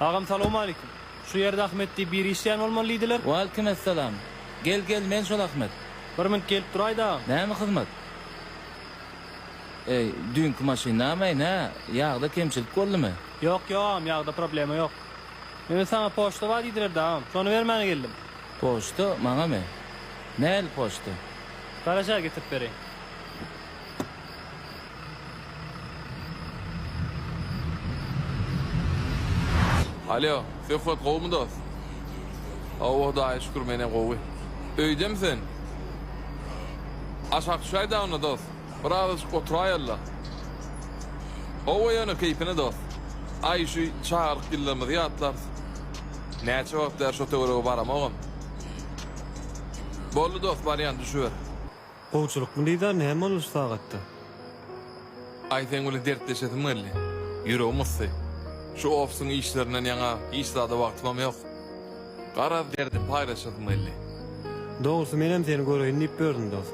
Agam salowmalikim. Şu ýerde Ahmet diýip biri işleýän bolmaly diýdiler. Waleýkim essalam. Gel gel men şol Ahmet. Bir minut gelip duraýda agam. Näme hyzmat? Eý, düýnki maşyndamäý nä, ýagda kemçilik boldumy? Ýok ýok agam ýagda problema ýok. Mende saňa poçta bar diýdiler-de agam. Şony bermäne geldim. Poçta maňamy? Nähili poçta? Garaja getirip bereýin. Alýo, Söhbet gowumy dost? Hawa, Hudaýa şükür, men-ä gowy. Öýdemi sen? Aşak düşäýdä onda, dost. Birazajyk oturaýaly-la. Hawa, ýöne keýpine, dost. Aý, şu çagalyk ýyllarymyzy ýatlarys. Näçe wagt bäri şo töwerege baramogam. Boldy dost barýan düşüber. Gowçylykmy Liza näme boldy şu sagatda. Aý seň bilen dertleşesim geldi. Ýüregim ysdy. Şu ofisiň işlerinden ýaňa hiç zada wagtymam ýok. Garaz derdimi paýlaşasym geldi. Dogrusy menem seni göreýin diýip bördüm dost.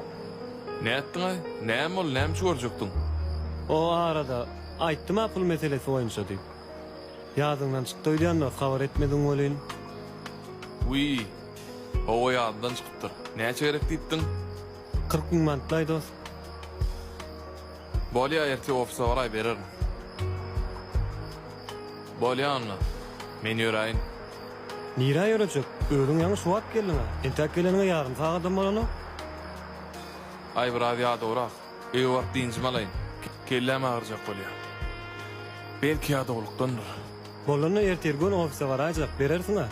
Nätdiňaý? Näme boldy näme üçin görjekdiň? O arada aýtdym-a pul meselesi boýunça diýip. Ýadyňdan çykdy öýdýändir, habar etmediň welin. Wiý, hawa ýadymdan çykypdyr. Näçe gerek diýipdiň? Kyrk müň mantlaý dost. Bolýa ertir ofisa baraý bererin. Bolýa onda, men ýöräýin. Nirä ýörejek, özüň ýaňy şu wagt geldiň-ä, entäk geleniňe ýarym sagadam bolanok. Aý biraz ýadawrak. Eý wagt dynjymy alaýyn. Kelläm agyrjak bolýar. Belki ýadawlykdandyr. Bolanda ertir göni ofise baraýjak, berersiň-a.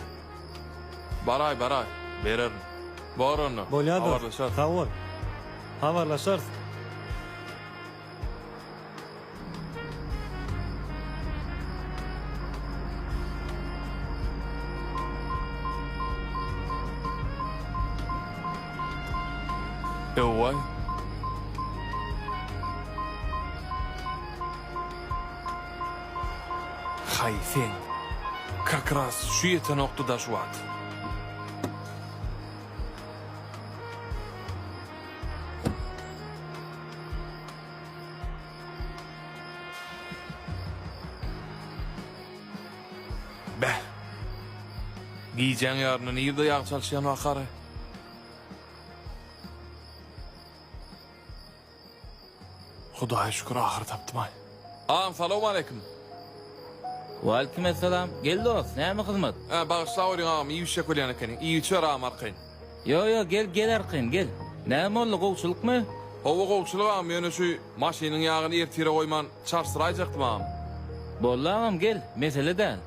Baraý, baraý, bererin. Bor onda, Bolýar dost, habarlaşarys. sag bol. Habarlaşarys. Öway. Haý sen. Kakras şu ýetenokdy daş wagt. Beh! Gijäň ýaryny nirde ýag çalşýan ahary? Hudaýa şükür, ahyry tapdym-aý. Agam, salowmaleýkim! Waleýkimessalam. Gel dost, näme hyzmat? Ä, bagyşlaweriň agam, iýip-içjek bolýan ekeniň. Iýibiçiber agam arkaýyn. Ýo ýo gel gel arkaýyn gel. Näme boldy gowçylykmy. Howa gowçylyk agam ýöne şu maşynyň ýagyny ertire goýman çalşyraýjakdym agam. Boldy agam gel mesele däl.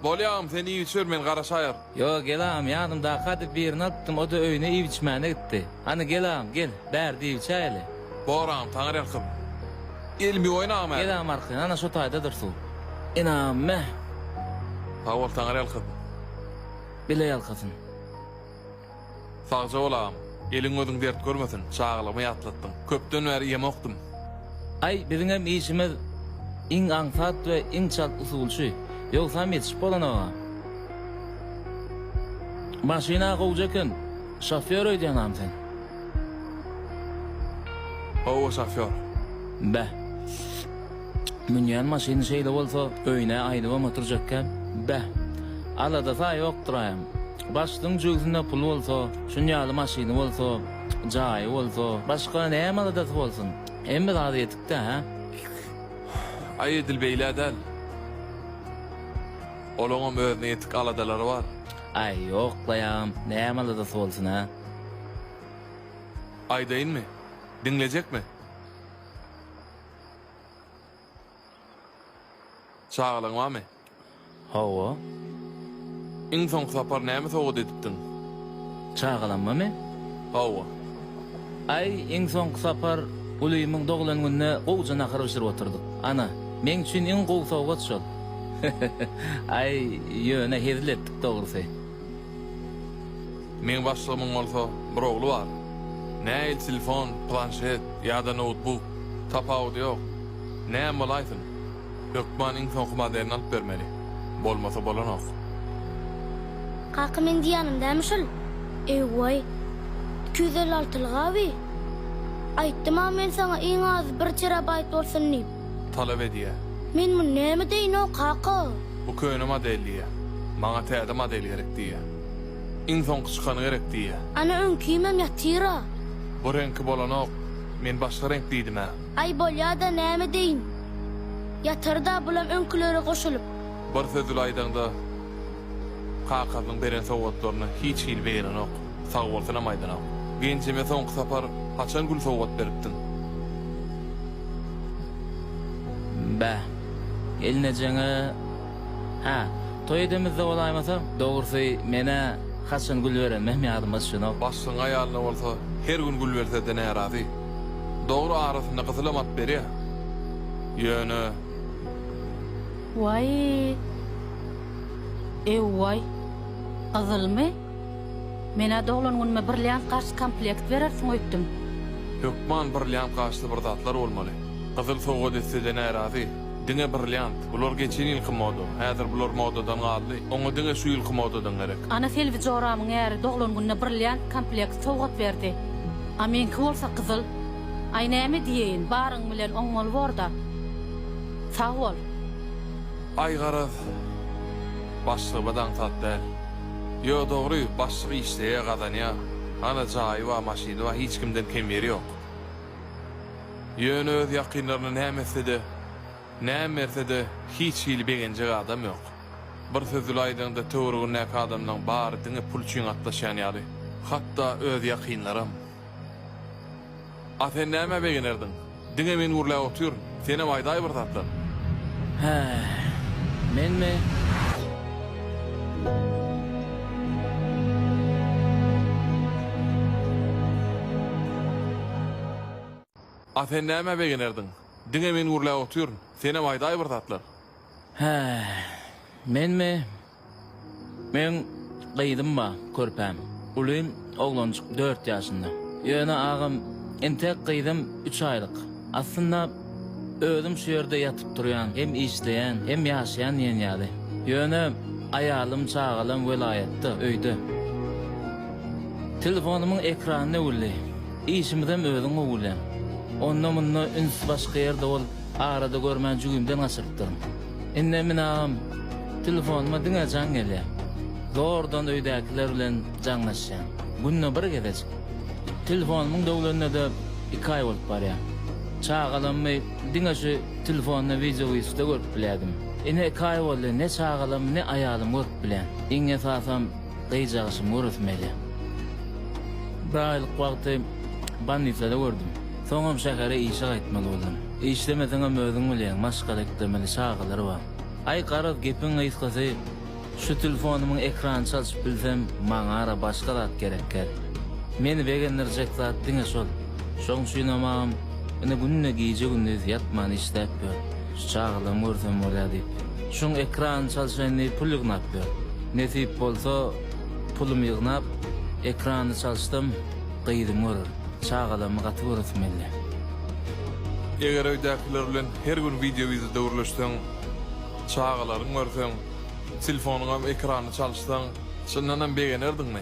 Bolýa agam sen iýip içiber men garaşaýar. Ýo gel agam ýadymdaka diýip birini alypdym oda öýüne iýip içmäne gitdi. Hany gel agam gel bärde iýip içäýeli. Bor agam taňyrýalkasyn. Elimi ýuwaýyn agam häzir. Gel agam arkaýyn ana şo taýdadyr suw. Enam mäh. Sag bol taňyrýalkasyn. Bile ýalkasyn. Sagja bol agam. Eliň gözüň dert görmesin, çagalygymy ýatlatdyň. Köpden bäri ýemokdym. Aý biziňem işimiz iň aňsat we iň çalt usulçy. Ýogsam ýetişip bolanok-a. Maşyn-a gowja eken, şofýor öýdýäňam sen? Hawa, şofýor. Beh. Münýän maşyny şeýle bolsa, öýün-ä aýnybam oturjakka. Beh, alada-saýa ýokduraýam. Başlygyň jübüsinde puly bolsa, şuny ýaly maşyny bolsa, jaýy bolsa, başga näme aladasy bolsun? Hemme zady ýetik-dä, hä? Aý, edil beýle-ä däl. Olaňam özüne ýetik aladalary bar. Aý, ýoklaýam, näme aladasy bolsun-a? Aýdaýynmy? Diňlejekmi? Çagalaň barmy? Hawa. Iň soňky sapar näme sowgat edipdiň? Çagalamamy? Hawa. Aý, iň soňky sapar ulymyň doglan gününe gowja nahar bişirip oturdyk. Ana, meň üçin iň gowy sowgat şol. Aý, ýöne hezil etdik dogrusy. Meň başlygymyň bolsa bir ogly bar. Näil telefon, planşet ýa-da noutbuk, tapawudy ýok. Näme bolaýsyn? Hökman iň soňky modelini alyp bermeli. Bolmasa bolanok. Kaka meň diýýänim dämi şul. Eý-waý. Iki ýüz elli altylyk-a bi. Aýtdym-a men saňa iň azy bir terabaýt bolsun diýip. talap edýär. Men muny näme deýinoo kaka? Bu köne model diýýär. Maňa täze model gerek diýýär. Iň soňky çykany gerek diýýär. Ana öňkimem ýatyra. Bu reňki bolanok, men başga reňk diýdim-ä. Aý bolýa-da näme deýin. Ýatar-da bulam öňkülere goşulyp. Bir söz bile aýdaňda kakasynyň beren sowgatlaryny hiç hili begenenok. Sagbolsunam aýdanam. Genjeme soňky sapar haçan gül sowgat beripdiň? Bäh. Gelnejeňe Hä, toý edemizde bolaýmasa. Dogrusy, men-ä haçan gül berenimem ýadyma düşenok. Başlygyň aýalyna bolsa her gün gül berse-de närazy. Dogry, arasynda gyzylam at berýä. Ýöne. Waý. Ew-waý. Gyzylmy? Men-ä doglan günüme brilliant gaş komplekt berersiň öýtdüm. Hökman brilliant gaşly bir zatlar bolmaly. Gyzyl sowgat etse-de närazy. Diňe brilliant. Bular geçen ýylky moda. Häzir bular modadan galdy. Oňa diňe şu ýylky modadan gerek. Ana Selbi joramyň äri doglan gününe brilliant komplekt sowgat berdi. A meňki bolsa gyzyl. Aý näme diýeýin, baryň bilen oňmaly bor-da. Sag bol. Aý garaz. Başlygyma-da aňsat däl. Ýo dogry başlyk işleýä gazanýa ana jaýy bar maşyny bar hiç kimden kem ýeri ýok ýöne öz ýakynlaryna näme etsede näme bersede hiç hili begenjek adam ýok bir söz bile aýdaňda töweregindäki adamlaň bary diňe pul üçin gatnaşýan ýaly hatda öz ýakynlaram. A sen nämä begenerdiň? Diňe men gürläp otur, senem aýdaý bir zatlar. Hä, menmi? A sen nämä begenerdiň? Diňe men gürläp otur, senem aýdaý bir zatlar. Hä, menmi? Meň gyzym bar, körpäm. Uly oglanjyk dört ýaşynda. Ýöne agam, entek gyzym üç aýlyk. Aslynda, özüm şu ýerde ýatyp-turýan, hem işleýän, hem ýaşaýan diýen ýaly. Ýöne aýalym, çagalam welaýatda, öýde. Telefonymyň ekrany döwüldi. Işimizem özüň gowulýaň. Onda-munda üns başga ýerde bolup, arada görmän jügimden gaçyrypdyryn. Indi men agam telefonyma diňe jaň gelýä. Zordan öýdäkiler bilen jaňlaşýan. Günde bir gezejik. Telefonymyň döwlenine-de iki aý bolup barýa. Çagalammy diňe şu telefonda wideoüýşde görüp bilýädim. Ine iki aý boldy ne çagalam ne aýalym görüp bilýän. Iň esasam gyjagyşymy göresim gelýä. Bir aýlyk wagty bolnisada gördüm. Soňam şähere işe gaýtmaly boldum. Işlemeseňem özüň bilýäň maşgala eklemeli çagalar bar. Aý garaz gepiň gysgasy şu tilfonymyň ekrany çalşyp bilsem maňara başga zat gerekgär. Meni begendirjek zat diňe şol. Şoň üçinem agam ine günde gije gündiz ýatman işläp ýör. Şu çagalarmy görsem bolýa diýip. Şuň ekranyny çalşaýyn diýip pul ýygnap ýör. Nesip bolsa pulumy ýygnap ekranyny çalşdym. Gyzymy görür. Çagalarmy gaty göresim geldi. Eger öýdäkiler bilen her gün wideo ýüzü döwürleşseň, çagalaryňy görseň, telefonyňam ekranyny çalyşsaň, çyndanam begenerdiňmi?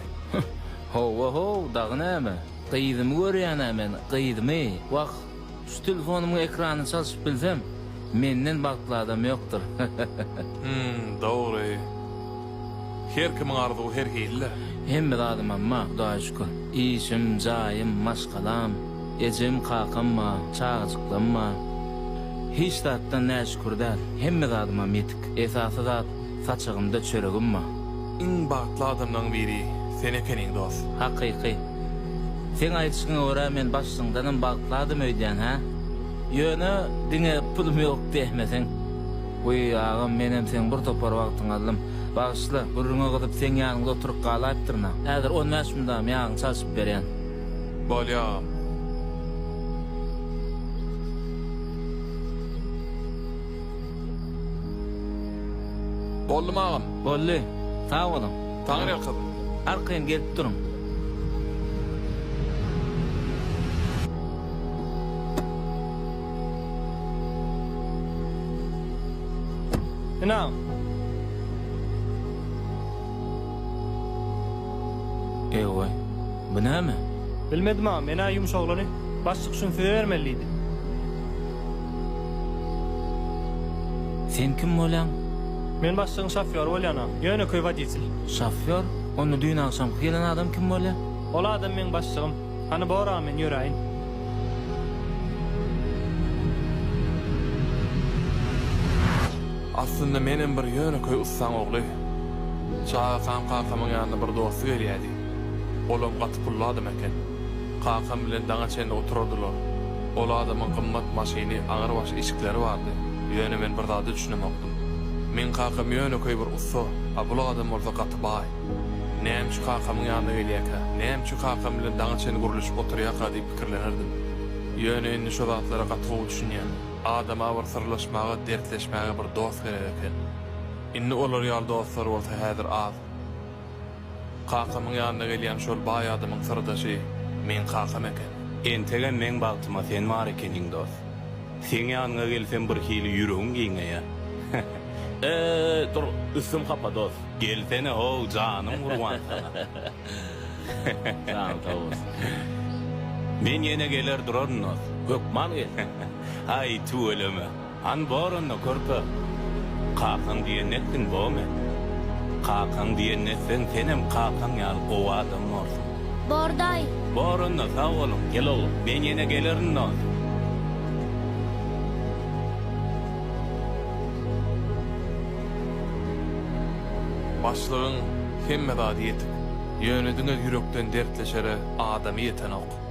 Howwa-how, dagy näme? Gyzymy görýän-ä men, gyzymy! Wah, Şu telefonymyň ekranyny çalşyp bilsem, menden bagtly adam ýokdur. Hümm, dogry. Her kimiň arzuwy her hili-dä. Hemme zadymam bar, Hudaýa şükür. Işim, jaýym, maşgalam, ejem, kakam bar, çagajyklarym bar. Hiç zatdan näşükür däl. Hemme zadymam ýetik. Esasy zat, Saçagymda çöregim bar. Iň bagtly adamlaň biri sen ekeniň dos. Hakyky. Seň aýdyşyňa görä men başlyňdanam bagtly adam öýdýän hä? Ýöne diňe pulum ýok diýäýmeseň. Wiý agam menem seň bir topar wagtyňy aldym. Bagyşla, gürrüňe gyzyp seň ýanyňda oturyp galaýypdyryn-a. Häzir on bäş mydam ýagyňy çalşyp berýän. Bolýa agam. Boldumy agam? Boldy. Sag boluň. Taňryýalkasyn. Arkaýyn gelip duruň. Ynam. Eýway. Bu näme? Bilmedim agam, men-ä ýumşaglany baş çykyşyny size bermelidiydim. Sen kim bolýaň? Men başlygyň şofýory bolýana. Ýönekeý woditel. Şofýor? Onda düýn agşamky gelen adam kim bolýa? Ol adam meň başlygym. Hany bor-a, men ýöräýin. Aslynda menem bir ýönekeý ussaň ogly. Çagakam kakamyň ýanyna bir dosty gelýädi. Olam gaty pully adam eken. Kakam bilen daňa çenli oturardylar. Ol adamyň gymmat maşyny, agyr-baş işikleri bardy. Ýöne men bir zada düşünemokdym. Meň kakam ýönekeý bir ussa, a bul adam bolsa gaty baý. Näme üçin kakamyň ýanyna gelýärkä? Näme üçin kakam bilen daňa çenli gürleşip oturýarka diýip pikirlenerdim. Ýöne indi şo zatlara gaty gowy düşünýän. Adama bir syrlaşmaga, dertleşmäge bir dost gerek eken. Indi olar ýaly dostlar bolsa häzir az. Kakamyň ýanyna gelýän şol baý adamyň syrdaşy meň kakam eken. Entegem meň bagtyma sen bar ekeniň dos. Seň ýanyňa gelsem bir hili ýüregim giňeýär. He-he. Eý, dur, üstüm hapa dos. Gelsene-how, janym gurban saňa. Janyň sag bolsun. Men ýene geler duraryn dos. Hökman gel. Aý, tüweleme. Han boranda körpe, Kakaň diýenini etdiň, Bomen. Kakaň diýenini etseň, senem kakaň ýaly gowy adam borsuň. Bor daýy. Boranda sag boluň. Gel oglum, men ýene gelerin dost. Başlygyň hemme zady ýetik. Ýöne diňe ýürekden dertleşere adamy ýetenok.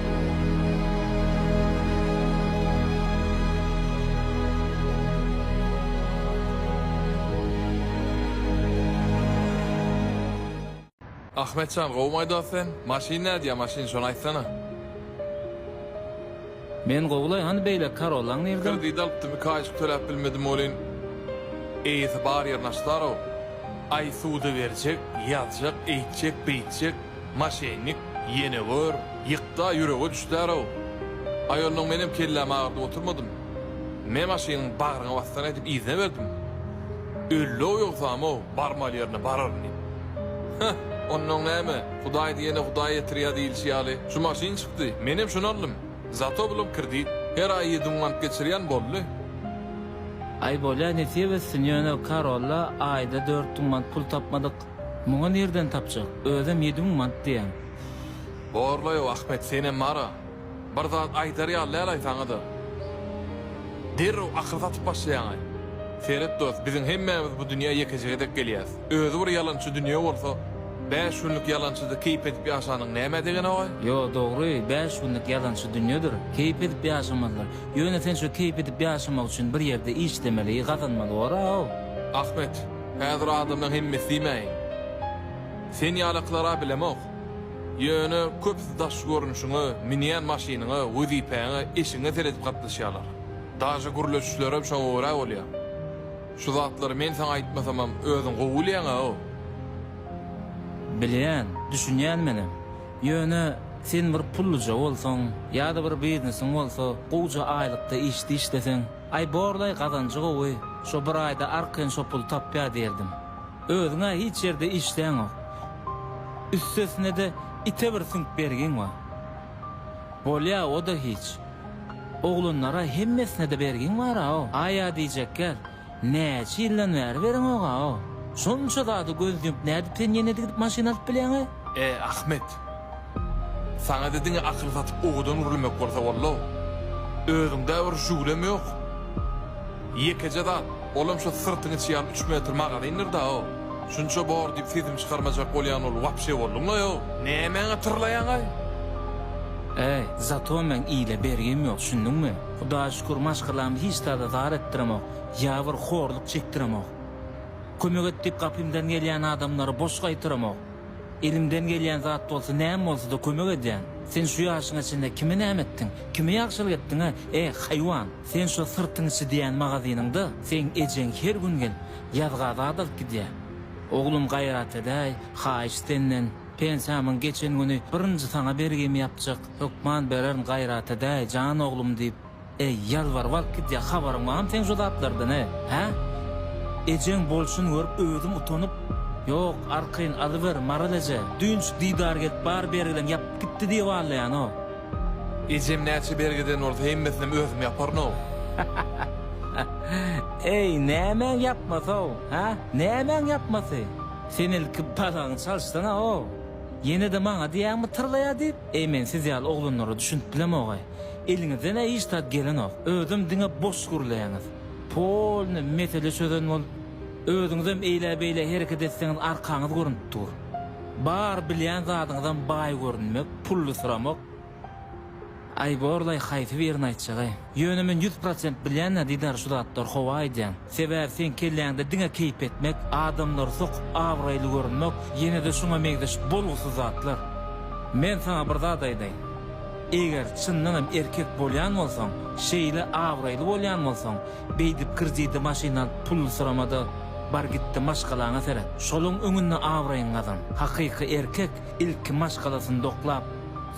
Ahmetjan gowumaý dos sen maşyn nädýä maşyn şony aýtsana. Men gowulaý hany beýleki karollaň nirde. Kredit alypdym iki aýyk töläp bilmedim welin eýesi bar ýerini açdarow. Aý suda berjek, ýazjak, eýtjek, beýtjek. Maşennik, ýene gör, ýykda ýürege düşdär-ow. Aý, onnoň menem kellämi agyrdyp oturmadym. Me maşynyň bagryňa basdyr aýdyp yzyna berdim. Öldi-ow ýogsam-ow, barmaly ýerine bararyn diýip. Heh, onnoň näme, Hudaý diýene Hudaý ýetirýär diýilişi ýaly, şu maşyn çykdy, menem şuny aldym. Zato bulam kredit, her aý ýedi müň manat geçirýän, boldy. Aý, bolýa, nesip etsin, ýöne Karolla aýda dört müň manat pul tapmadyk. Muňa nirden tapjak, özem ýedi müň mant diýýäň. Borlaýow Ahmet senem bar-a. Bir zat aýdar ýaly däl aýsaňyza. Derrew akyl satyp başlaýaňy. Seret dost, biziň hemmämiz bu dünýä ýekejä gezek gelýäs. Özi bir ýalançy dünýe bolsa, bäş günlük ýalançyda keýp edip ýaşanyň nämä degeni-oý? Ýo, dogry, bäş günlük ýalançy dünýedir. Keýp edip ýaşamazlar. Ýöne sen şo keýp edip ýaşamak üçin bir ýerde işlemeli, gazanmaly bor-a-ow. Ahmet, Häzir adamlaň hemmesi diýmäýin. Sen ýalaklara bilemok. Ýöne köpüsi daş görnüşiňe, münýän maşynyňa, wezipäňe, işiňe seredip gatnaşýarlar. Daže gürleşişlerem şoňa görä bolýar. Şu zatlary men saňa aýtmasamam özüň gowy bilýäň-ä-ow. Bilýän, düşünýän menem. Ýöne sen bir pullyja bolsaň, ýa-da bir biznesiň bolsa, gowja aýlykda işde işleseň, Aý borlaý gazanjy gowy, şo bir aýda arkaýyn şo puly tapýar diýerdim. Özüň-ä hiç ýerde işläňok. Üstesine-de ite bir süňk bergiň bar. Bolýa o-da hiç. Oglanlara hemmesine-de bergiň bar-a-o. Aý-a diýjekler, näçe ýyldan bäri bereňok-a-o. Şonça zada göz ýumup nädip sen ýene-de gidip maşyn alyp bilýäň-e? Ä Ahmet. Saňa-da diňe akyl satyp owadan gürlemek bolsa bollo. Özüňdä bir jüwlem ýok. Ýekeje zat, olam şo syrtyňy çyýan üç metr magazyndyr-da-ow. Şunça bor diýip sesimi çykarmajak bolýan bolup wapşe bolduňlaý-ow. Nämäňe tyrlaýaň-aý? Äý, zato meň ile bergim ýok, şunduňmy? Hudaýa şükür, maşgalamy hiç zada zar etdiremok, ýa bir horluk çekdiremok. Kömek et diýip gapymdan gelýän adamlary boş gaýtaramok. Elimden gelýän zat bolsa näme bolsada kömek edýän. Sen şu ýaşyňa çenli kime näme etdiň? Kime ýagşylyk etdiň-ä, eh, haýwan? Sen şo syrtyň içi diýýän magazynyňda seň ejeň her gün gelip, ýazga zat alyp gidýä. Oglum gaýrat edäý, haýyş senden. Pensiýamyň geçen güni birinji saňa bergimi ýapjak hökman bererin gaýrat edäý, jan oglum diýip. Eý, ýalbar, wagt gidýär, habaryň barmy seň şu zatlardan-a, hä? Ejeň bolşuny görüp özüm utanyp, Ýok, arkaýyn, alyber, Maral eje, düýnçik Didar gelip bar bergileňi ýapyp gitdi diýip allaýan-ow. Ejem näçe bergiden bolsa hemmesinem özüm ýaparyn-ow. Eý, nämäň ýapmasy-ow, hä? Nämäň ýapmasy? Sen ilki balagyňy çalyşsana-ow. Ýene-de maňa diýýäňmi tyrlaýar diýip? Eý, men siz ýaly oglanlara düşünip bilemog-eý. Eliňizden-ä hiç zat gelenok, özem diňe boş gürleýäňiz. Polny mesele çözen bolup, özüňizem eýlä-beýlä hereket etseňiz arkaňyz görnüp dur. Bar bilýän zadyňyzam baý görünmek, pullysyramak. Aý, borlaý, haýsy birini aýtjagaý? Ýöne men ýüz prosent bilýän-ä Didar şu zatlary, howa aýdýan. Sebäbi seň kelläňde diňe keýp etmek, adamlary sokup abraýly görünmek, ýene-de şuňa meňzeş bolgusyz zatlar. Men saňa bir zat aýdaýyn. Eger çyndan hem erkek bolýan bolsaň, şeýle abraýly bolýan bolsaň, beýdip kredide maşyn alyp pullysyrama-da, bar git-de maşgalaňa seret. Şolaň öňünde abraýyňy gazan. Hakyky erkek ilki maşgalasyny doklap,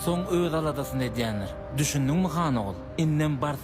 soň öz aladasyny edýändir. Düşündiňmi, Hanogul? Indem bars.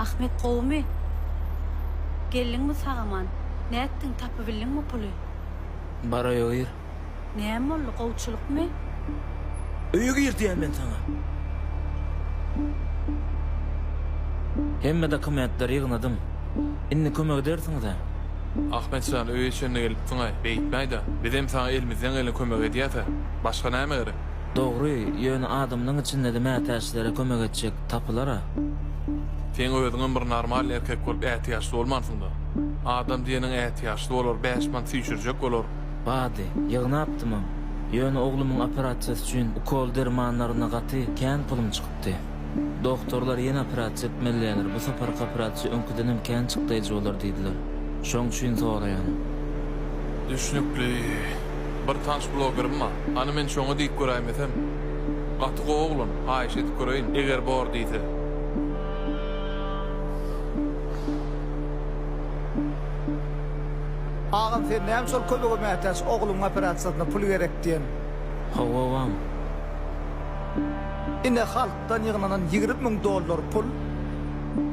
Ahmet gowumy? Geldiňmi sag-aman? Nätdiň, tapybildiňmi puly? Baraýoýr. Näme boldy, gowçylykmy? Öýe gir diýýän men saňa! Hemme dokumentleri ýygnadym. Indi kömek edersiňiz-ä? Ahmet jan, öýe çenli gelipsiň-aý, beýtmäý-dä. Bizem saňa elimizden gelen kömegi edýäs-ä. Başga näme gerek? Dogry, ýöne adamlaň içinde-de mätäçlere kömek etjek tapylar-a. Sen özüňem bir normalny erkek bolup ätiýaçly bolmansyň-da. Adam diýeniň ätiýaçly bolar, bäş mant süýşürjek bolar. Bady, ýygnapdymam. Ýöne oglumyň operasiýasy üçin ukol-dermanlaryna gaty kän pulum çykypdy. Dogtorlar ýene operasiýa etmelidirler, bu saparky operasiýa öňküdenem kän çykdaýjy bolar diýdiler. Şoň üçin soraýan. Düşnükli. Bir tans blogerim bar. Hany men şoňa diýip göräýmesem? Gaty gowy oglan, haýyş edip göreýin, eger bor diýse. Agam sen näme şol kömege mätäç ogluň operasiýasyna pul gerek diýen. Hawa agam. Ine halkdan ýygnanan ýigrimi müň dollar pul.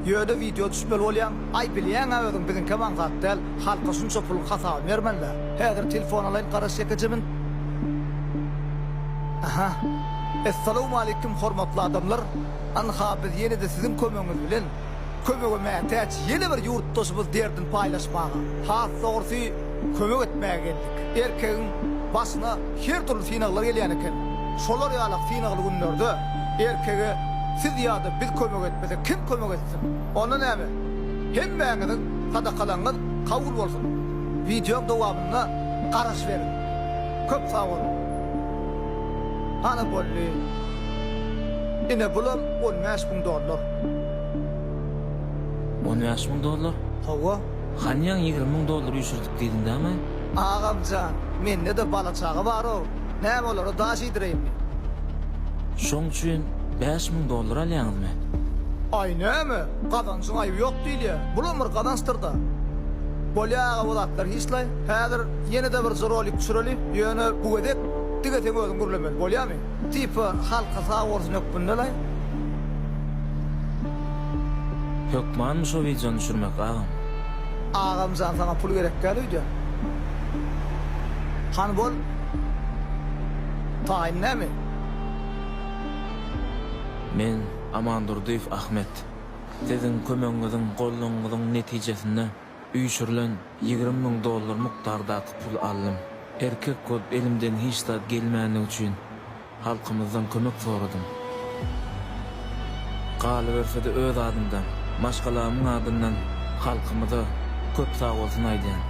Ýöne wideo düşmeli bolýaň. Aý bilýäňä özüň biziňkem aňsat däl. Halka şunça puluň hasabyny bermeliler. Häzir telefon alaýyn garaş ýekejemin. Aha. Essalawmaleýkim hormatly adamlar. Ynha biz ýene-de siziň kömegiňiz bilen. kömege mätäç ýene bir ýurtdaşymyz derdini paýlaşmaga, has dogrusy, kömek etmäge geldik. Erkegiň başyna her dürli synaglar gelýän eken. Şolar ýalak synagly günlerde erkege siz ýa-da biz kömek etmesek, kim kömek etsin? Onda näme? Hemmäňiziň sadakalaryňyz kabul bolsun! Wideoň dowamyna garaş beriň. Köp sag boluň! Ana boldy. Ine bulam on bäş müň dollar. On bäş müň dollar? Hawa. Hanýaň ýigrimi müň dollar üýşürdik diýdiň dämi? Agamjan, mende-de bala-çaga bar-ow, näme olara daş iýdireýinmi? Şoň üçin bäş müň dollar alýaňyzmy? Aý, näme, gazanjyň aýby ýok diýilýär, bulam bir gazançdyr-da. Bolýa aga bu zatlar hiç-laý, häzir ýene-de birje rolik düşüreli, ýöne bu gezek diňe seň özüň gürlemeli, bolýamy? Tipe halka sag bolsun hökmündelaý. Hökmanmy şo wideony düşürmek agam. Agamjan saňa pul gerek däl öýde. Hany bol taýyn näme. Men Amandurdyýew Ahmet. Siziň kömegiňiziň, goldawyňyzyň netijesinde. Üýşürilen ýigrimi müň dollar mukdardaky puly aldym. Erkek bolup elimden hiç zat gelmändigi üçin halkymyzdan kömek soradym. Galyberse-de öz adymdan, maşgalamyň adyndan halkymyza köp sagbolsun aýdýan.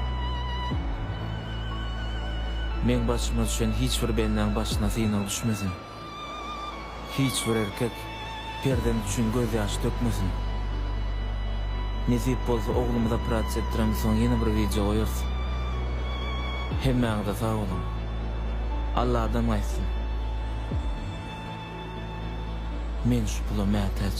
Meň başyma düşen hiç bir bendäň başyna synag düşmesin. Hiç bir erkek perzent üçin gözýaş dökmesin. Nesip bolsa oglumyz operasiýa etdiremz soň ýene bir wideo goýarys. Hemmäňize sag boluň. Alladan gaýtsyn. Men şu pula mätäç.